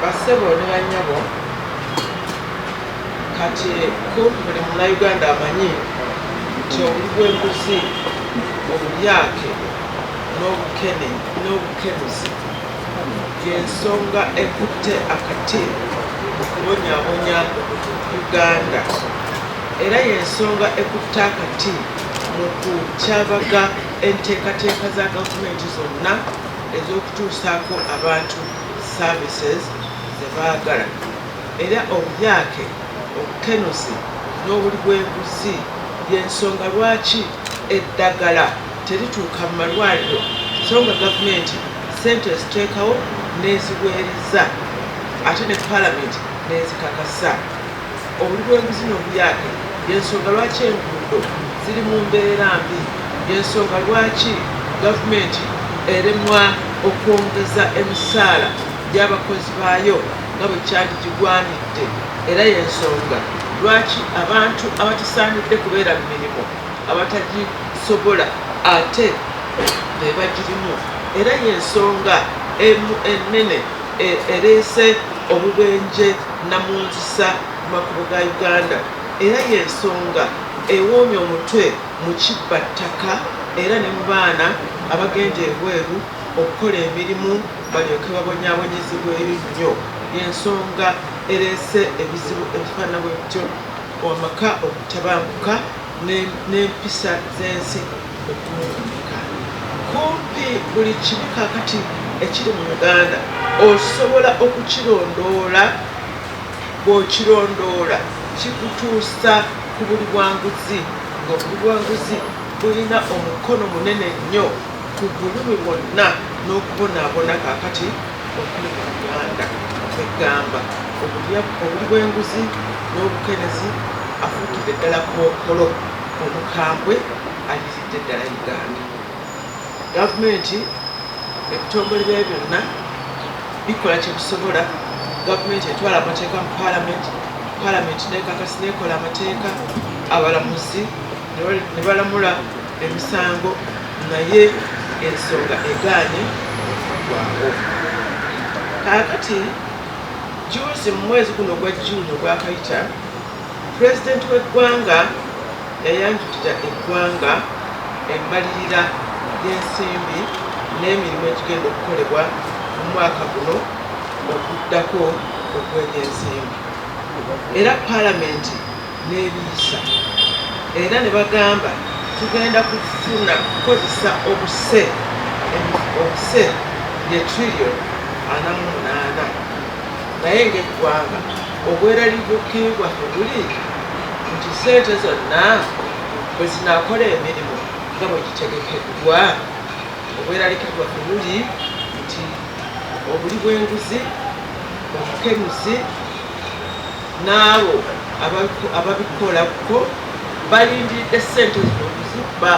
bassebo ne bannyabo kati kumpi buli munauganda amanyi nti obuli bw'enguzi obulyake n'obukene n'obukenuzi y'ensonga ekutte akati okubonyabonya uganda era y'ensonga ekutte akati mu kukyavaga Enteekateeka za gavumenti zonna ez'okutuusaako abantu services ze baagala era obuyake, obukenuzi n'obuli bweguzi y'ensonga lwaki eddagala terituuka mu malwaliro so nga gavumenti ssente eziteekawo n'eziweereza ate ne palamenti n'ezikakasa. Obulibwenguzi n'obuyake y'ensonga lwaki enguudo ziri mu mbeera mbi, y'ensonga lwaki gavumenti eremwa okwongeza emisaala gy'abakozi baayo nga bwe kyandigigwanidde era y'ensonga lwaki abantu abatasaanidde kubeera mu mirimu abatagisobola ate be bagirimu era y'ensonga emu ennene ereese obubenje. Nnamunjusa makubo ga Uganda era y'ensonga ewoomya omutwe mu kibba ttaka era ne mu baana abagenda ebweru okukola emirimu balyoke babonyaabonyezebweyo nnyo y'ensonga ereese ebizibu ebifaanana bwe bityo, amaka obutabanguka n'empisa z'ensi Okwewuunyika, Kumpi buli kibi kaakati ekiri mu Uganda osobola okukirondoola. Bw'okirondoola kikutuusa ku buli bwanguzi ng'obuli bwanguzi bulina omukono munene nnyo ku bulumi bwonna n'okubonaabona kaakati okuli mu Uganda. Kwe gamba obuli bw'enguzi n'obukerezi afuukidde ddala kookolo. Omukambwe aliridde ddala Uganda. Gavumenti ebitongole byayo byonna bikola kyebisobola. Gavumenti etwala amateeka mu palamenti, palamenti nekakasi nekola amateeka, abalamuzi ne balamula emisango naye ensonga egaanye okugwawo. Kaakati juuzi mu mwezi guno ogwa June ogwakayita, Pulezidenti w'eggwanga yayanjulira eggwanga embalirira y'ensimbi n'emirimu egigenda okukolebwa mu mwaka guno oguddako ogw'ebyensimbi era palamenti n'ebiyisa era ne bagamba tugenda kufuna kukozesa obuse obuse ye trillion ana mu munaana. naye ng'eggwanga obweraliikirivu bwaffe buli nti ssente zonna bwe zinaakola emirimu nga bwe gitegekeddwa obweraliikirivu bwaffe buli nti obuli bw'enguzi obukenuzi n'abo ababikolako balindiridde ssente zino okuzibba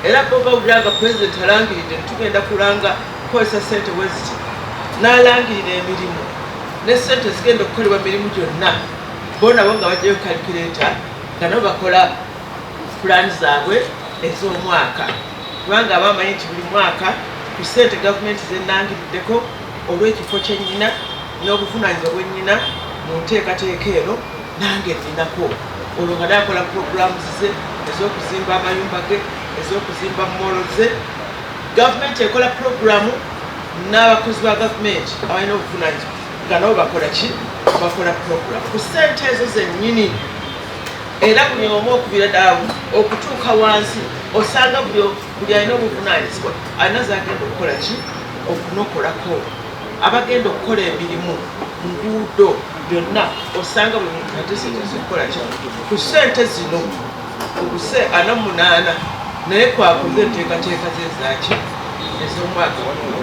era bo bawulira nga pulezidenti alangiridde nti tugenda kulanga okukozesa ssente bwe ziti n'alangirira emirimu ne ssente zigenda okukolebwa mirimu gyonna bo nabo nga bajjayo kalikireeta nga nabo bakola pulaani zaabwe ez'omwaka kubanga aba amanyi nti buli mwaka ku ssente gavumenti zenangiriddeko olw'ekifo kyennyina n'obuvunaanyizibwa bwennyina mu nteekateeka eno nange ninako olwo nga nakola puroguramu ze ez'okuzimba amayumba ge ez'okuzimba moolo ze Gavumenti ekola pulogulaamu n'abakozi ba gavumenti abalina obuvunaanyizibwa nga nabo bakola ki bakola pulogulaamu ku ssente ezo zennyini era buli omu okubira daawo okutuuka wansi osanga buli alina obuvunaanyizibwa alina zagenda okukola ki okunokolako abagenda okukola emirimu nguudo byonna osanga buli muntu ateseeza okukola ki ku ssente zino Obuse ana munaana naye kwakuza enteekateeka ze zaaki ez'omwaka waliwo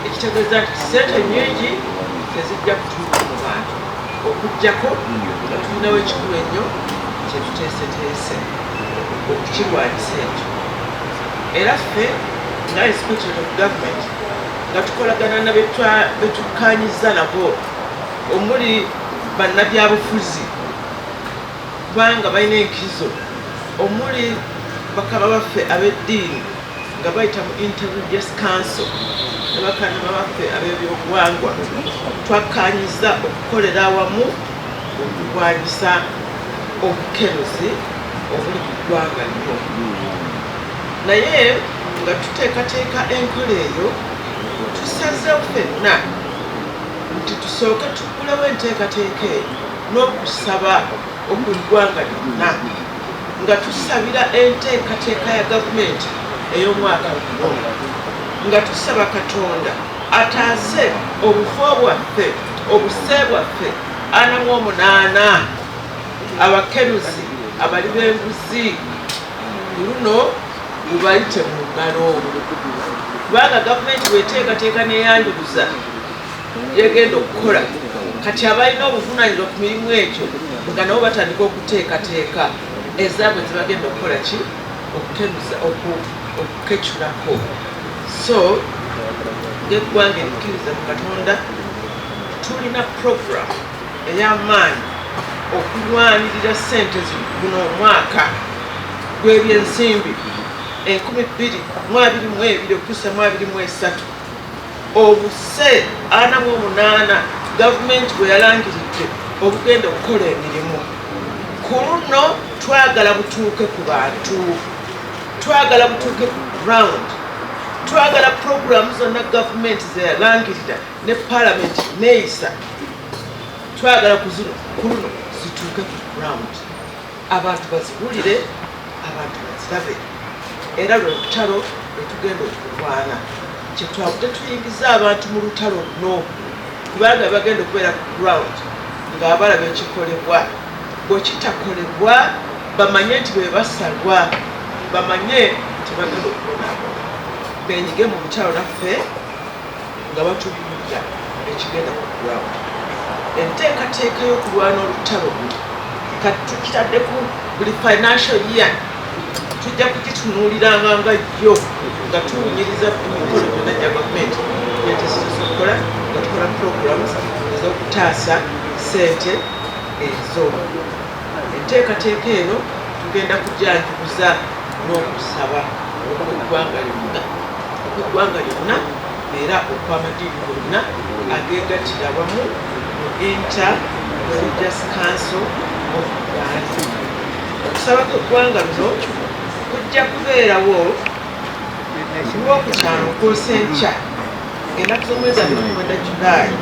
ekitegeeza nti ssente nyingi tezijja kutuuka mu bantu okuggyako nga tulinawo ekikulu ennyo kye tuteeseteese okukirwanyisa ekyo era ffe nga inspectorate of government nga tukolagana na betukkaanyizza nabo omuli bannabyabufuzi Kubanga balina enkizo omuli bakama baffe ab'eddiini nga bayita mu Inter Religious Council ne bakannama baffe ab'ebyobuwangwa twakkaanyizza okukolera awamu okulwanyisa obukenuzi obuli mu ggwanga lino naye nga tuteekateeka enkola eyo tusazeewo fenna nti tusooke tuggulewo enteekateeka eyo n'okusaba oku ggwanga lyonna nga tusabira enteekateeka ya gavumenti ey'omwaka guno nga tusaba katonda ataase obufo bwaffe obuse bwaffe ana mu omunaana abakeruzi abali b'enguzi luno gubayite mu ngalo kubanga gavumenti bweteekateeka neyanjuluza byegenda okukola kati abalina obuvunanyizibwa ku mirimu egyo nga nabo batandika okuteekateeka ezaabwe zebagenda okukola ki okukenuza okukecurako so ngeggwanga ebikkiriza mu katonda tulina program ey'amaanyi okulwanirira sente zino omwaka gw'ebyensimbi enkumi bbiri mu abiri mu ebiri okutuusa mu abiri mu esatu obuse ana mu omunaana gavumenti bwe yalangiridde obugenda okukola emirimu ku luno twagala butuuke ku bantu twagala butuuke ku ground twagala puroguramu zonna gavumenti zeyalangirira ne palamenti neyisa twagala ku luno zituuke ku ground abantu baziwulire abantu bazirabe era lwe lutalo lwe tugenda okulwana kyetwavudde tuyingiza abantu mu lutalo luno kubanga bagenda okubeera ku ground ng'abalaba ekikolebwa bwekitakolebwa bamanye nti bebasalwa bamanye nti bagenda okubonabona benyige mu lutalo laffe nga batubuulira ekigenda ku ground. Enteekateeka y'okulwana olutalo luno kati tukitadde ku buli financial year tujja kugitunuuliranga nga yo nga tuwunyiriza emikolo gyonna gya gavumenti gyetusinza okukola nga tukola programs ez'okutaasa ssente ezo enteekateeka eno tugenda kujanjuza n'okusaba okweggwanga lyonna okweggwanga lyonna era okw'amadiini gonna ageegattira awamu mu Inter Religious Council of Uganda. Okusaba kw'eggwanga luno kujja kubeerawo Lwokutaano okwosa enkya ng'ennaku z'omwezi abiri mukwenda Julaayi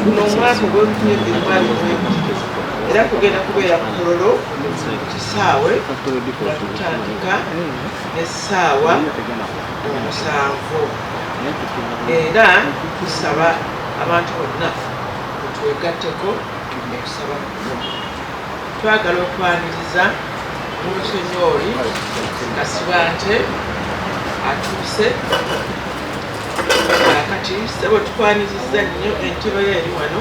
guno omwaka ogw'olukumi ebiri mu abiri mu emu era kugenda kubeera ku Kololo kisaawe nga tutandika n'essaawa omusanvu era tusaba abantu bonna twegatteko okusaba kuno twagala okwaniriza mulusonyooli kasibante atuuse kati sebo tukwaniriza nnyo entebe yo eri wano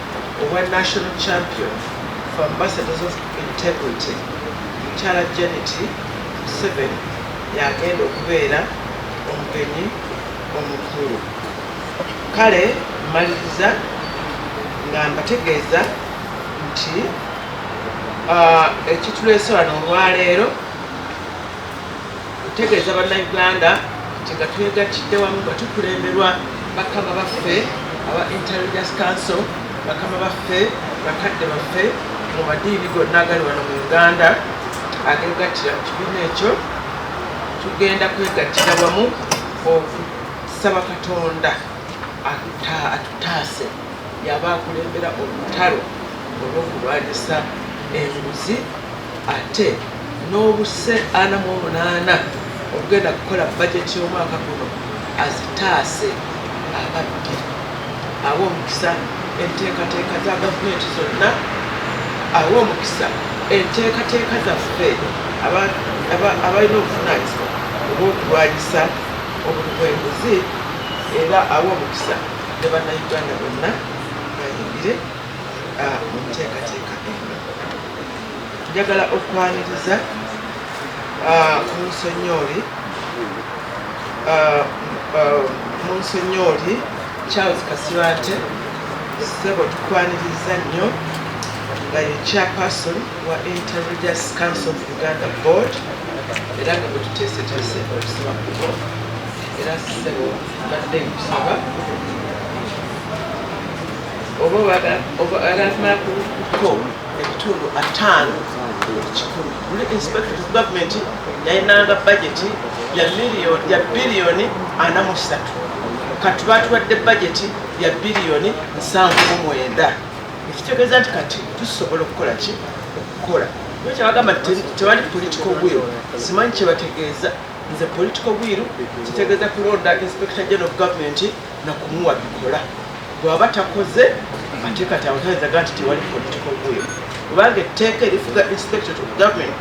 Obwa National Champion for Ambassadors of Integrity, Mukyala Janet Museveni y'agenda okubeera omugenyi omukulu. Kale mmaliriza nga mbategeeza nti ekituleese wano olwaleero Ntegeeza Bannayuganda nti nga twegattidde wamu nga tukulemberwa bakama baffe aba Inter Religious Council, bakama baffe, bakadde baffe mu madiini gonna agali wano mu Uganda ageegattira mu kibiina ekyo, tugenda kwegattira wamu okusaba Katonda atutaase y'aba akulembera olutalo olw'okulwanyisa enguzi. ate n'obuse ana mu omunaana okugenda kukola bajeti y'omwaka guno azitaase ababbi awe omukisa enteekateeka za gavumenti zonna awe omukisa enteekateeka zaffe abalina obuvunaanyizibwa obw'okulwanyisa obuli bwenguzi era awe omukisa ne bannayuganda bonna bayingire ah, mu nteekateeka eno Njagala okwaniriza munsonyooli munsonyooli Charles Kasibante sebo tukwaniriza nnyo nga ye chairperson wa Interreligious Council of Uganda Board era nga bwetuteeseteese okusaba kubo era sebo badde nkusaba oba bagala kumala kuko ebitundu ataano ekikumi buli inspector of government yalinanga bajeti ya biliyoni ana mu satu kati batuwadde bajeti ya biliyoni nsanvu mu mwenda ekitegeeza nti kati tusobola okukola ki okukola nyo kyabagamba tewali political will simanyi kyebategeeza nze political will kitegeeza kulonda inspector general of government nakumuwa bikola bwaba takoze atekati abatanzaga nti tewali political will kubanga etteeka erifuga inspector of government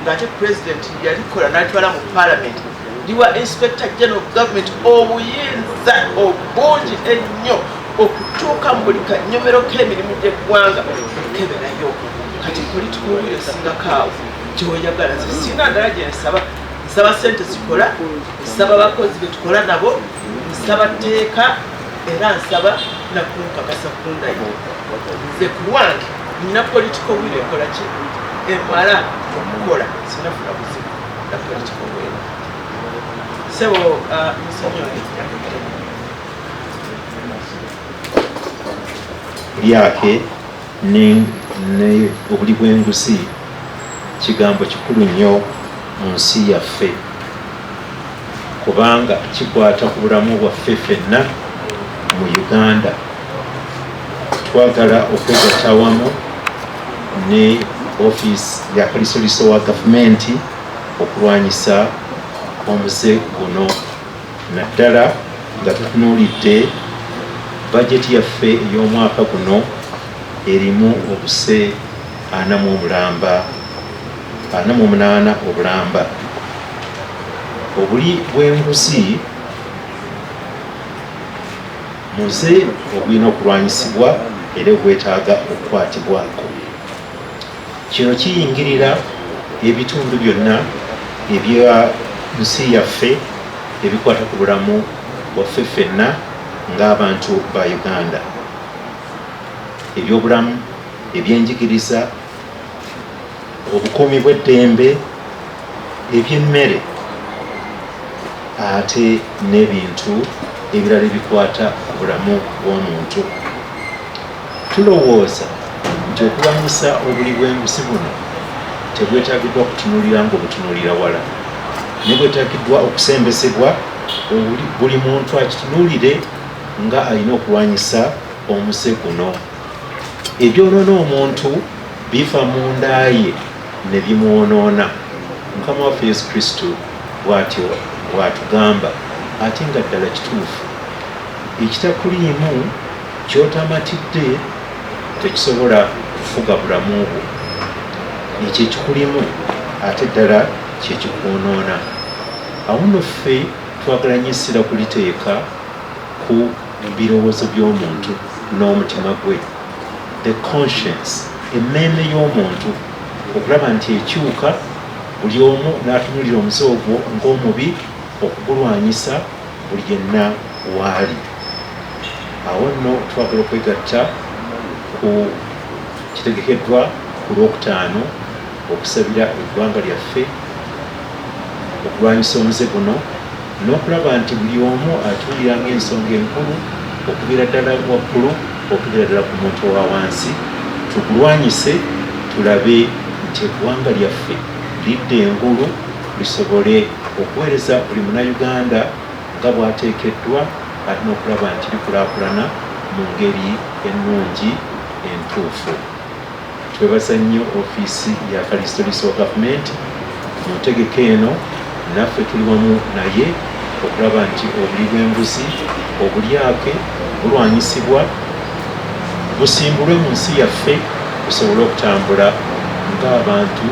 ngaate president yalikola natwala mu parliament liwa inspector general of government obuyinza obungi ennyo okutuuka mu buli kanyomero k'emirimu gy'eggwanga okukeberayo kati political will esingako awo gyoyagala sisina ndala gyensaba nsaba sente zikola nsaba bakozi betukola nabo Ssabatteeka era nsaba nakunkakasa kundayo nze kulwange nina political will ekola ki emala okukola sinafuna buzibu na political will sebo uh, musonyiwe lyake Ne, ne obuli bw'enguzi kigambo kikulu nnyo mu nsi yaffe, kubanga kikwata ku bulamu bwaffe ffenna mu Uganda. Twagala okwegatta awamu ne ofiisi ya Kalisoliiso wa Gavumenti okulwanyisa omuze guno. naddala nga tutunuulidde bajeti yaffe ey'omwaka guno erimu obuse ana mu obulamba ana mu omunaana obulamba obuli bw'enguzi muze ogulina okulwanyisibwa era obwetaaga okukwatibwako Kino kiyingirira ebitundu byonna ebya nsi yaffe ebikwata ku bulamu bwaffe ffenna ng'abantu ba Uganda, ebyobulamu, ebyenjigiriza, obukuumi bw'eddembe, eby'emmere ate n'ebintu ebirala ebikwata ku bulamu bw'omuntu. Tulowooza nti okulwanyisa obuli bw'enguzi buno tebwetagiddwa kutunulira ng'obutunulira wala, naye bwetagiddwa okusembezebwa buli muntu akitunulire nga alina okulwanyisa omuze guno. Ebyonona omuntu biva mu ndaaye ne bimwonoona. Mukama waffe Yesu Kristo bwatyo bwatugamba ate nga ddala kituufu ekitakuliimu Ky'otamatidde tekisobola kufuga bulamu bwo. Ekyo ekikulimu ate ddala kye kikwonoona. Awo nno ffe twagala nnyo essira kuliteeka ku birowoozo by'omuntu n'omutima gwe, the conscience, emmeeme y'omuntu, okulaba nti ekyuka buli omu n'atunuulira omuze ogwo ng'omubi okugulwanyisa. buli yenna waali awo nno twagala okwegatta ku kitegekeddwa ku lwokutaano okusabira eggwanga lyaffe okulwanyisa omuze guno n'okulaba nti buli omu atuulira ng'ensonga enkulu okubeera ddala waggulu okubeera ddala ku muntu owa wansi tukulwanyise tulabe nti eggwanga lyaffe lidda engulu lisobole okuweereza buli Munnayuganda nga bw'ateekeddwa ate n'okulaba nti likulaakulana mu ngeri ennungi entuufu. Twebaza nnyo ofiisi ya Kalisitoliisi wa Gavumenti mu ntegeka eno, naffe tuli wamu naye okulaba nti obuli bw'enguzi, obulyake bulwanyisibwa busimbulwe mu nsi yaffe tusobole okutambula ng'abantu.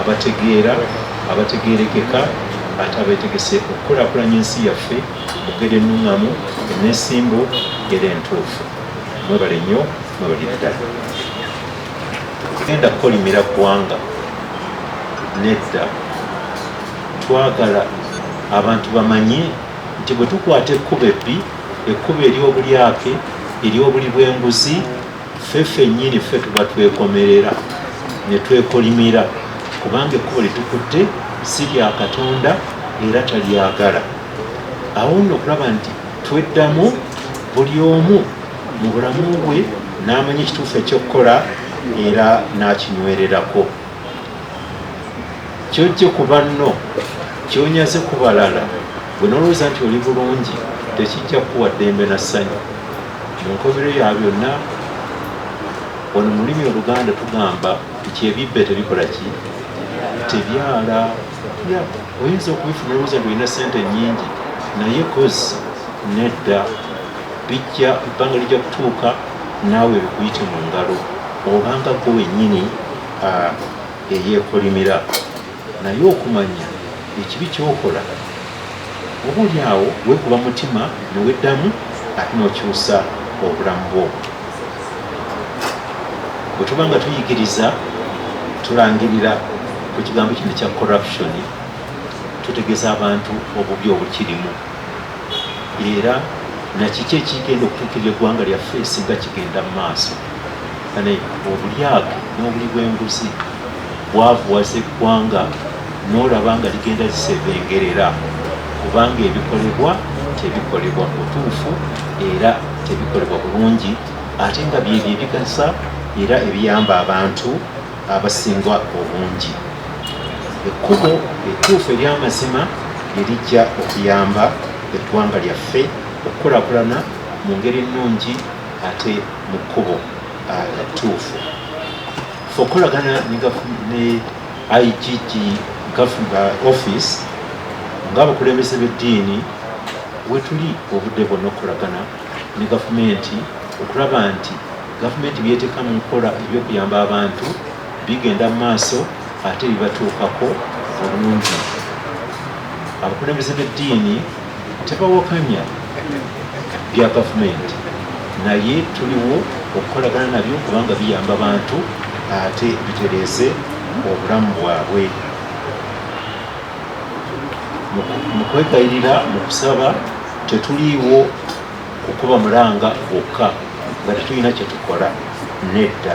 abategeera abategeerekeka ate abeetegese okukulakulanya ensi yaffe mugere ennuŋŋamu eneesimbu era entuufu mwebale nnyo mwebalire ddala genda kukolimira ggwanga nedda twagala abantu bamanye nti bwe tukwata ekkubo ebbi ekkubo ery'obulyake ery'obuli bw'enguzi ffe ffennyini ffe tuba twekomerera ne twekolimira kubanga ekkubo litukutte si lya katonda era talyagala awo nno okulaba nti tweddamu buli omu mu bulamu bwe n'amanya ekituufu ekyokukola era n'akinywererako kyojje ku banno kyonyaze ku balala bwe nolowooza nti oli bulungi tekijja kukuwa ddembe na ssanyu Mu nkomerero ya byonna, wano mu lulimi Oluganda tugamba nti ebibbe tebikola ki tebyala. Oyinza okubifuna olowooza nti olina ssente nnyingi, naye kozi nedda, bijja ebbanga lijja kutuuka naawe bikuyite mu ngalo obanga gwe wennyini eyeekolimira. Naye okumanya ekibi ky'okola, oba oli awo weekuba mutima ne weddamu ate n'okyusa obulamu bwo. Bwe tuba nga tuyigiriza, tulangirira ku kigambo kino ekya corruption, tutegeeza abantu obubi obukirimu era nakiki ekigenda okutuukirira eggwanga lyaffe singa kigenda mu maaso. Kale obulyake n'obuli bw'enguzi bwavuwaza eggwanga n'olaba nga ligenda zisebengerera kubanga ebikolebwa tebikolebwa butuufu era tebikolebwa bulungi ate nga byebyo ebigasa era ebiyamba abantu abasinga obungi ekkubo etuufu ery'amazima erijja okuyamba eggwanga lyaffe okukulakulana mu ngeri ennungi ate mu kkubo ah, ettuufu okukolagana ne IGG office ng'abakulembeze b'eddiini wetuli obudde bwonna okukolagana ne gavumenti okulaba nti gavumenti byeteeka mu nkola ebyokuyamba abantu bigenda mu maaso ate bibatuukako bulungi abakulembeze b'eddiini Tebawakanya bya gavumenti naye tuliwo okukolagana nabyo kubanga biyamba bantu ate bitereeze obulamu bwabwe mu kwegayirira mu kusaba tetuliiwo kukuba mulanga gwokka nga tetulina kyetukola nedda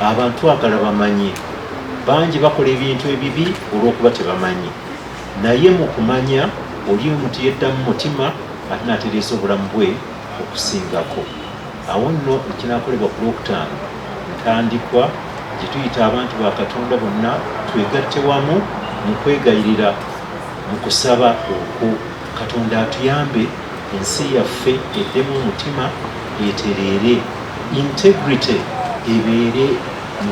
abantu agala bamanyi bangi bakola ebintu ebibi olw'okuba tebamanyi Naye mu kumanya oli omuntu yeddamu mutima ate n'atereesa obulamu bwe okusingako. Awo nno ekinakolebwa ku Lwokutaano ntandikwa gye tuyita abantu ba Katonda bonna twegatte wamu mu kwegayirira mu kusaba okwo Katonda atuyambe ensi yaffe eddemu omutima etereere, integrity ebeere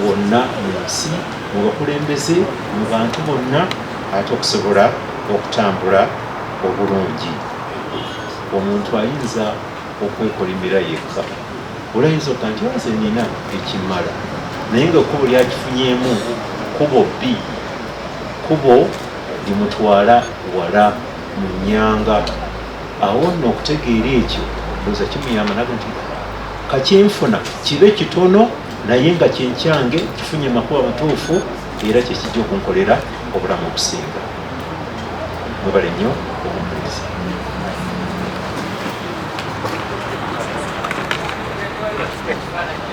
wonna mu nsi, mu bakulembeze, mu bantu bonna. Ate okusobola okutambula obulungi omuntu ayinza okwekolimira yekka. Olayinza okuga nti nze nina ekimala naye nga ekkubo lyakifunyemu kubo bbi kubo limutwala wala mu nyanga awo nno okutegeera ekyo oza kimuyamba naga nti kakyenfuna kibe kitono naye nga kyenkyange kifunye makuba matuufu era kyekijja okunkolera obulamu obusinga mwebale nnyo obumpuliriza Thank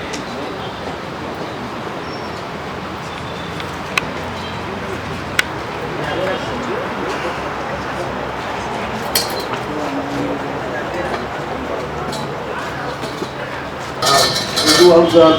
you.